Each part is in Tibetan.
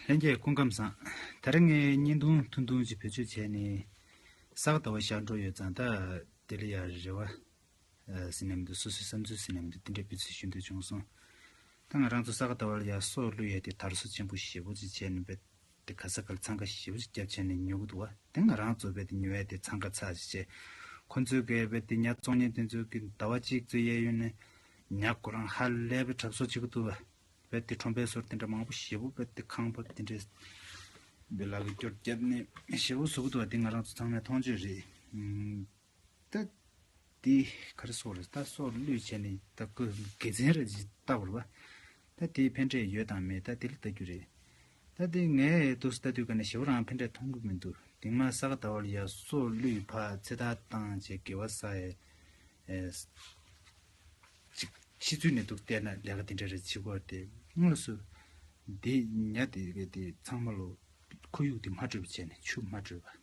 ལྷན་རྒྱས་སྐུ་ཁམས་བཟང། ད་རེས་ངས་བརྙན་ཐུང་ཐུང་ཐུང་ཅིག་བེད་སྤྱོད་བྱས་ནས་གསར་བ་ཟླ་བ་ཞག་འགྲོ་ཡོད་ཙང་ད་དེ་ལ་ཡང་རེ་བ་ཟིན་ནི་མི་འདུག་སོ་སོའི་བསམ་ཚུལ་ཟིན་ནི་མི་འདུག་དེ་འདྲའི་སྤུས་ཚད་ཞུ་འདོད་བྱུང་སོང། ད་ང་རང་ཚོ་གསར་བ་ཟླ་བ་ལ་ཡང་སྲོག་བླུ་ཡས་ཏེ་དར་སོ་ཆེན་པོ་ཞེ་པོ་ཅིག་བྱས་ནི་འབད་དེ་ག་ས་གར་འཚང་ཁ་ཞེ་བོ་ཅིག་སྐྱབས་བྱས་ནས་ཉོ་གི་འདུག་བ་དེ་ང་རང་ཚོ་བས་ཏེ་ཉོ་ཡས་དེ་འཚང་ཁ་ཚ་ཞེས་བྱས། ཁོ་ཚོའི་ག་ཡས་བས་ཏེ་ཉག་བཙོང་ཉན་དེ་ཚོའི་གི་ཟླ་བ་གཅིག་ཚོའི་གཡས་གཡོན་ནས། ཉག་ཁོ་རང་ཧ་ལས་པའི་གྲབས་གསོག་བྱེད་གི་འདུག་བ་བས་ཏེ་ཁྲོམ་པའི་སོར་དེ་འདྲ་མང་པོ་ཞེ་བོ་བས་ཏེ་ཁང་ཕབ་དེ་འདྲས། བའི་ལག་གི་སྐྱོར་བརྒྱབ་ནས་ཞེ་བོ་བཟོ་གི་འདུག་བ་དེ་ང་རང་ཚོ་ཚང་མས་མཐོང་ཆོས་རེད། ཏི། ཏི། ག་རེ་སོགས་རེད་ད་སོགས་བློས་བྱས་ནས་ད་ཀུ་དགེ་མཚན་རེད་ཅེས་བལྟ་བར་བ། ད་དེའི་ཕན་འབྲས་ཡོད་དང་མེད་ད་དེ་ལ་བལྟ་རྒྱུ་རེད། ད་དེ་ངས་དུས་སུ་ལྟ་དུས་ག་ནས་ཞེ་བོ་རང་ཕན་འབྲས་མཐོང་གི་མི་འདུག་དེང་མ་ས་ག་ད་བར་ཡ་སོགས་བློས་ཕ་ཚེ་ད་བཏང་བྱས་དགེ་བ་ས་ཡས་ཅིག་ཤི་ཚུལ་ནས་འདུག་བལྟས་ན་ལས་ཀ་དེ་འདྲ་རེ་བྱེད་དགོས་དེ་དངོས་སུ་དེ་ཉལ་དེ་ག་དེ་ཚང་མ་ལོ་ཁོར་ཡུག་དེ་མ་དྲོས་པ་བྱས་ནས་ཆུ་མ་དྲོས་པ།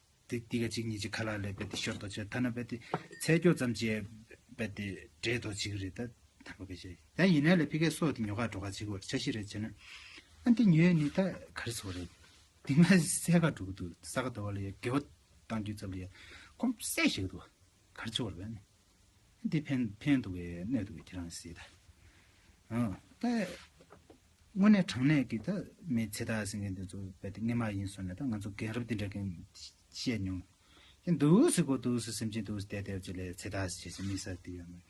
དེ་ཏི་ཀ་གཅིག་གཉིས་ཀྱི་ཁ་ལག་ལས་པད་དེ་ཤོར་དོ་ཅེ་ཐ་ན་པད་དེ་ཚད་སྐྱོ་ཙམ་གྱིས་པད་དེ་འདྲེས་དོ་གཅིག་རེད་ད་ཐ་པ་ག་ཤེད་ད་ཡིན་ན་ལས་ཕི་ཀའི་སོགས་དེ་ཉོ་ཁ་འགྲོ་ཁ་གཅིག་བོར་ཆ་ཤི་རེད་ཅེ་ན་ཨ་འདི་ཉོས་ནི་ད་ག་རེ་ཚོར་རེད་དེ་སྔ་གསལ་ཁ་འགྲོ་གི་འདུག་ས་ག་དོ་བ་ལ་ཡ་དགེ་བ་བཏང་རྒྱུ་ཙམ་ལ་ཡ་གོམས་གསལ་བྱེད་གི་འདུག་ག་རེ་ཚོར་བ་རེད་འདི་ཕན་ཕན་འདུག་གས་གནས་འདུག་གས་ཁྱེད་རང་ཟེད། ད་དངོས་གནས་དྲང་གནས་ཀྱི་ད་མི་ཚེ་ད་ཟེར་མཁན་དེ་ཚོ་བལྟས་ཏེ་ངན་མ་ཡིན་བཟོ་ནས་ད་ང་ཚོ་རྒན་རབས་འདི་འདྲ་གས་བཤད་མྱོང་གྱི་འདུག་ཟེར་གོ་འདུག་ཟེར་སེམས་ཅན་དུ་བལྟས་ཏེ་བྱེད་ལས་ཚེ་ད་ཟེར་བྱས་ཚེ་དམིགས་བསལ་དེ་ཡོད་མོད།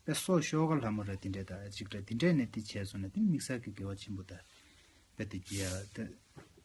བལྟས་སོ་ཤོག་ག་ལྷ་མོ་ར་འདི་འདྲས་ད་གཅིག་འདྲ་འདི་འདྲས་ནས་འདི་བྱས་བཟོ་ནས་དེ་ནི་དམིགས་བསལ་གྱི་དགེ་བ་ཆེན་པོ་ད་བལྟས་དེ་རྒྱལ་ད།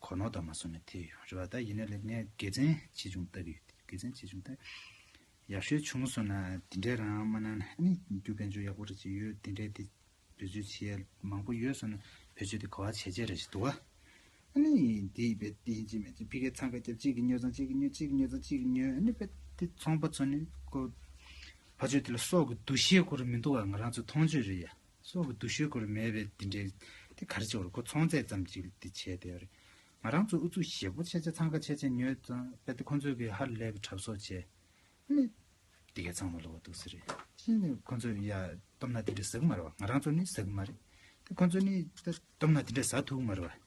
གོ་ནོར་དང་མ་སོང་ནས་ཐལ་ཡོད་རེད་བ་ད་ཡིན་ན་ལེ་ངས་དགེ་མཚན་ཆེ་ཆུང་ལྟ་གི་ཡོད་དེ་དགེ་མཚན་ཆེ་ཆུང་ལྟ། ཡག་ཤོས་བྱུང་སོང་ན་དེ་འདྲའི་རང་མ་གནང་ན་ནི་རྒྱུ་དཔལ་འབྱོར་ཡག་པོ་རེ་ཅིག་ཡོད་དེ་འདྲའི་དེ་བེད་སྤྱོད་བྱེད་ཡས་མང་པོ་ཡོད་སོང་ན་བེད་སྤྱོད་དེ་གོ་བ་བྱས་བྱས་རེ་ཞིག་འདུག་ཨ་ནི་དེ་ཡིན་པས་དེ་ཡིན་གཅིག་མིན་གཅིག་ཕི་ཁའི་འཚང་ཁ་རྒྱབ་གཅིག་གིས་ཉོས་ཚང་གཅིག་གིས་ཉོས་གཅིག་གིས་ཉོས་ཚང་གཅིག་གིས་ཉོས་ཨ་ནི་པས་དེ་ཚོང་པ་ཚོ་ནི་ཀོ་བ་བྱོས་དེ་ལ་སྲོག་གི་འདུ་ཤེས་ཁོ་རུ་མི་འདུག་བ་ང་རང་ཚོའི་མཐོང་ཆོས་རེད་ཡ། སྲོག་གི་འདུ་ཤེས་སྐོར་མེད་པའི་འདི་འདྲའི། དེ་ག་རེ་བྱེད་འོ་རེ་ཁོ་ཚོང་ཚད་ཙམ་གྱིས་འདི་བྱས་དེ་འོ་རེ། ང་རང་ཚོ་ཨུ་ཚུགས་ཞེ་པོ་ཆེ་ཆེ་འཚང་ཁ་ཆེ་ཆེ་ཉོས་ཙང་རྦད་དེ་ཁོ་ཚོས་གི་ཧར་ལས་གི་གྲབས་སོགས་བྱས། ཨ་ནི། འདི་གས་ཚང་མ་ལོག་འདུག་ཟེར་རེ་ཤི་ནས་ཁོ་ཚོས་ཡ། སྟོབས་ན་འདི་འདྲའི་ཟ་གི་མ་རེད་བ་ང་རང་ཚོ་ནི་ཟ་གི་མ་རེད། དེ་ཁོ་ཚོ་ནི། སྟོབས་ན་འདི་འདྲའི་ཟ་ཐུབ་གི་མ་རེད་བ།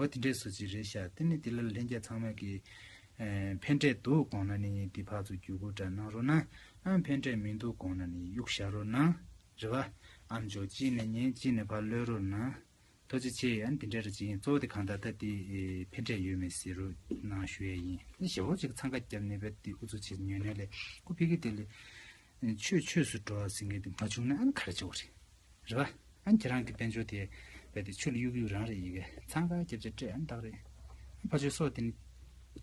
ཨོ་དེ་འདྲས་སུ་ཅིག་རེད་ཤག་དེ་ནི་དེ་ལ་ལྷན་རྒྱས་ཚང་མས་ཀྱི། ཕན་འབྲས་འདུག་དགོངས་ན་ནི་འདི་ཕག་ཚོ་རྒྱུ་སྐུར་འདྲ་གནང་རོགས་གནང། ཨ་ཕན་འབྲས་མི་འདུག་དགོངས་ན་ནི་གཡུག་བཞག་རོགས་གནང། རེད་བ། ཨ་མཆོག་གཅིག་ནས་ཉན་གཅིག་ནས་ཕར་གློད་རོགས་གནང། ཐུགས་རྗེ་ཆེ་ཨ་འདི་འདྲས་རེད་ཅིག་ཡིན་གཙོ་བོ་དེ་གང་ད་ལྟ་དེ། ཕན་འབྲས་ཡོད་མེད་ཟེར་རོགས་གནང་ཞུ་ཡས་ཡིན། ཞེ་བོ་ཅིག་འཚང་ཁ་རྒྱབ་ནས་བས་དེ་འུ་ཚོ་ཆེད་ཉོས་ནས་ལས་སྐུ་ཕི་གི་དེ་ལས། ཆོས་ཆོས་སུ་འགྲོ་བ་ཟེར་མཁན་དེ་མ་བྱུང་ན་ཨང་ག་རེ་བྱུང་བ་རེད། རེད་པ། ཨང་ཁྱེད་རང་གི་དཔལ་འབྱོར་དེ་རྦད་དེ་ཆུ་ལ་གཡུག་གཡུག་རང་རེད་ཡི་གེ་ཚང་ག་རྒྱབ་ཆ་སྤྲད་ཨང་བདག་རེད། ཕ་ཆོས་སོགས་དེ་ནི།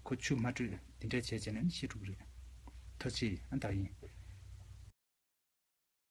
ཁོ་ཆུ་མ་དྲོས་དེ་འདྲ་བྱས་བྱས་ན་ནི་ཤེས་ཐུབ་རེད། ཐོ་ཆེ་ཨང་བདག་ཡིན།